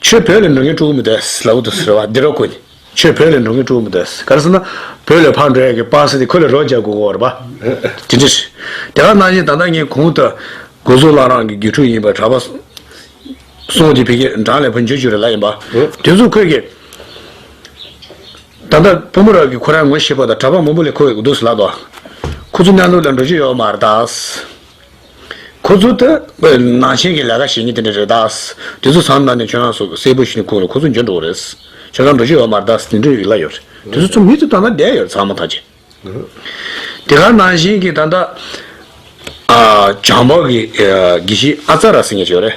ཆོས་བོད་ལས་འགྲོ་མཁན་དཀྲུག་གི་མི་འདུག་ཨེས་ལ་འུ་ཐུག་ཟེར་བ་འདི་རོ་ཁོ་ནི་ཆོས་བོད་ལས་འགྲོ་མཁན་དཀྲུག་གི་མི་འདུག་ཨེས་ག་རེ་ཟེར་ན་བོད་ལས་ཕར་འགྲོ་ཡག་གི་སྤང་ཟེར་ཏེ་ཁོ་ལས་རོགས་རྒྱག་དགོས་གོ་རེད་པ། དེ་འདྲ་ཞིག་དེ་ག་གནང་ཞིག་ད་ལྟ་ངས་གོང་དུ་དགོན་གཙུག་ལག་རང་གི་དགེ་ཕྲུག་ཡིན་པ་གྲྭ་པ་སོང་དེ་བི་ཀེ་འབྲང་ལས་བུ་འཇོ་བྱུ་རེ་ལ་ཡིན་པ་དེ་ཚོ་ཁོས་གི་ད་ལྟ་བུ་མོ་རང་གི་ཁོ་རང་ངོ་ཤེས་པ་དང་གྲྭ་པ་མང་པོ་ལས་ཁོ་འདུག་ཟེར་ལགས་དོ། ཁོ་ཚོ་གནས་ལུགས་ལ་འགྲོ་རྒྱུ་ཡོད་མ་རེད་ད། ཁོ་ཚོ་དེ་སྐོས་ནང་བཞིན་གྱི་ལས་ཀ་བྱེད་ངེས་དེ་འདྲ་རེད་ད། དེ་ཚོ་ཚང་མ་ནས་ཆོས་ལང་སོགས་གསལ་པོ་ཞིག་ནས་ཁུངས་ལ་ཁོ་ཚོ་འབྱོར་འགྲོ་བ་རེད། ཆོས་ལང་འགྲོ་ཤེས་བ་མ་རེད་ད་དེ་འདྲའི་རིགས་ལ་ཡོད་རེད། དེ་ཚོ་ཚོ་མི་ཚོ་ད་ནང་བསྡད་ཡོད་རེད་ཚང་མ་ཐག་བཅད། དེ་ག་ནང་བཞིན་གྱི་ད་ལྟ། བྱང་འཕགས་ཀྱི་དགེ་བཤེས་ཨ་ཙཱ་ར་སེང་གེ་ཞིག་ཡོད་རེད།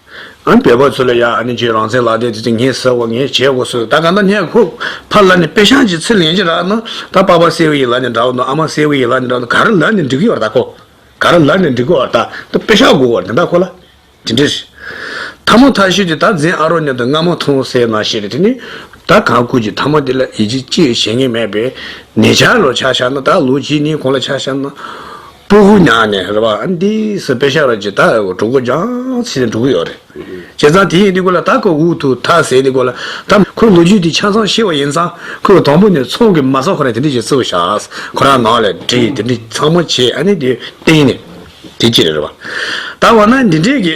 ཨ་འི་བལ་བོ་ཚོ་ལ་ཡ་ཨ་ནི་ཇི་རང་བཙན་ལག་དེབ་དེ་དེ་ངས་ཟེར་བ་ངས་བྱས་དགོ་ཟེར་ད་ག་ནད་ནས་ཁུག་ཕར་ལ་ནི་དཔེ་ཤང་གྱི་ཚི་ལེན་གྱི་ར་ནི་ད་པ་པ་སེའུ་ཡི་ལ་ནི་འདྲ་བ་ནི་ཨ་མ་སེའུ་ཡི་ལ་ནི་འདྲ་བ་ནི་ག་རི་ལ་ནི་འགྲིག་གི་བར་ད་ཁོ་ག་རི་ལ་ནི་འགྲིག་གི་བར་ད་ད་དཔེ་ཤག་དགོ་བར་དེ་ད་ཁོ་ལ་དེ་འདྲི་ཞེས་ཐ་མོ་ཐ་ཤི་དེ་ད་འཛིན་ཨ་རོ་ནི་ད་སྔ་མོ་ཐོང་སེ་ན་ཤི་རེ་དེ་ནི་ད་ག་ཁུག་གྱི་ཐ་མོ་དེ་ལ་ཡི་ཇི་ཅི་བྱེད་ངེས་མེད་པས་ནེ་ཆ་ལོ་ཆ་ཤ་ན་ད་ལོ་གྱི་ནི་ཁོང་ལ་ཆ་ཤ་ན། ཀྲུའུ་ཧུའུ་ཉག་ནས་རེད་བ་ཨན་ཏི་སི་པེ་ཤ་ར་ཇི་ད་ཨའོ་གྲུ་གུ་ཇང་ཚི་ནས་གྲུ་གུ་ཡོག་རེད་བྱས་ཙང་དེ་ཡིན་དེ་གོ་ལ་ད་ཁོ་ཝུའུ་ཐུ་ཐ་ཟེར་དེ་གོ་ལ་ད་ཁོའི་ལོ་རྒྱུས་དེ་ཆ་ཚང་ཤེས་བ་ཡིན་ཙང་ཁོས་གོ་དང་པོ་ནས་ཚོང་གི་མ་ས་ཁོ་རང་དེ་འདྲི་བྱེད་ཚུལ་བཞག་ཁོ་རང་ནང་ལས་འདྲི་དེ་འདྲི་ཚང་མ་བྱས་ཨ་ནི་དེ་སྟེང་ནས་དེ་ཅི་རེད་བ་ད་བ་ན་འདི་འདྲས་ཀྱི།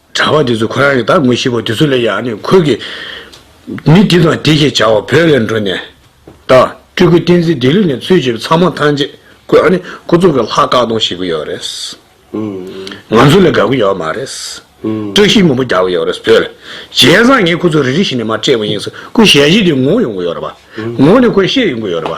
གྲྭ་བ་དེ་ཚོས་ཁོ་རང་གི་ད་ངོ་ཤེས་པ་དེ་ཚོ་ལས་ཡག་ནི་ཁོས་གིས། མི་འདི་དང་འདི་ཞེས་བྱ་བ་བོད་ལས་འགྲོ་ནས། ད། སྤྲུལ་སྐུ་བསྟན་འཛིན་ལྡི་ལི་ནས་ཚུལ་བྱེད་པ་ཚང་མ་ཐང་ཆད་ཁོས་ཨ་ནི་ཁོ་ཚོ་གི་ལྷག་བཀག་སྡོམ་བྱེད་ཀྱི་ཡོད་རེད། ང་ཚོ་ལ་དགའ་གི་ཡོད་མ་རེད། བཀྲ་ཤིས་སྔོན་པོ་རྒྱག་གི་ཡོད་རེད་བོད་ལ། བྱས་ཙང་ངས་ཁོ་ཚོ་རེ་རེ་བཞིན་ནས་མ་སྤྲད་པ་ཡིན་ཟེར་ཁོས་ཞལ་བཞེས་དེ་ངོ་ཡོང་གི་ཡོད་རེད་པ། ངོ་ནས་ཁོས་བཤད་ཡོང་གི་ཡོད་རེད་པ།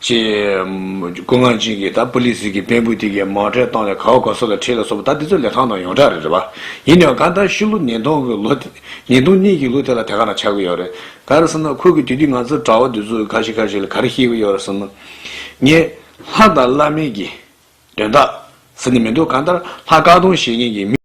ཅེས། སྐུ་ངག་འབྱིན་གྱིས་ད་པུ་ལི་སི་གི་བེམ་པོའི་སྟེང་གི་མར་ཁྲལ་བཏང་ནས་ག་འོ་ག་སོགས་ལ་ཁྲིད་ལ་སོགས་པ་ད་འདི་ཚོ་ལས་ཐང་དང་ཡོངས་གྲགས་རེད་རེད་པ། ཡིན་ནའང་གང་ལྟར་ཤི་ལོ་ཉིས་སྟོང་གི་ལོ་དེ། ཉིས་སྟོང་གཉིས་ཀྱི་ལོ་དེ་ལ་དེ་ག་ན་ཆགས་ཀྱི་ཡོད་རེད། ག་རེ་བསམ་ན་ཁོ་གིས་དུས་དུས་ང་ཚོ་གྲྭ་བ་འདི་ཚོ་ཁ་ཤི་ཁ་ཤི་ལ་ག་རེ་ཤེས་ཀྱི་ཡོད་རེད་བསམ་ན། ངས། ལྷ་དང་བླ་མེད་ཀྱི། དོན་དག། ཟེར་ནི་མི་འདུག་གང་ལྟར་ལྷ་བཀག་སྡོམ་བྱེད་མཁན་གྱི་མི།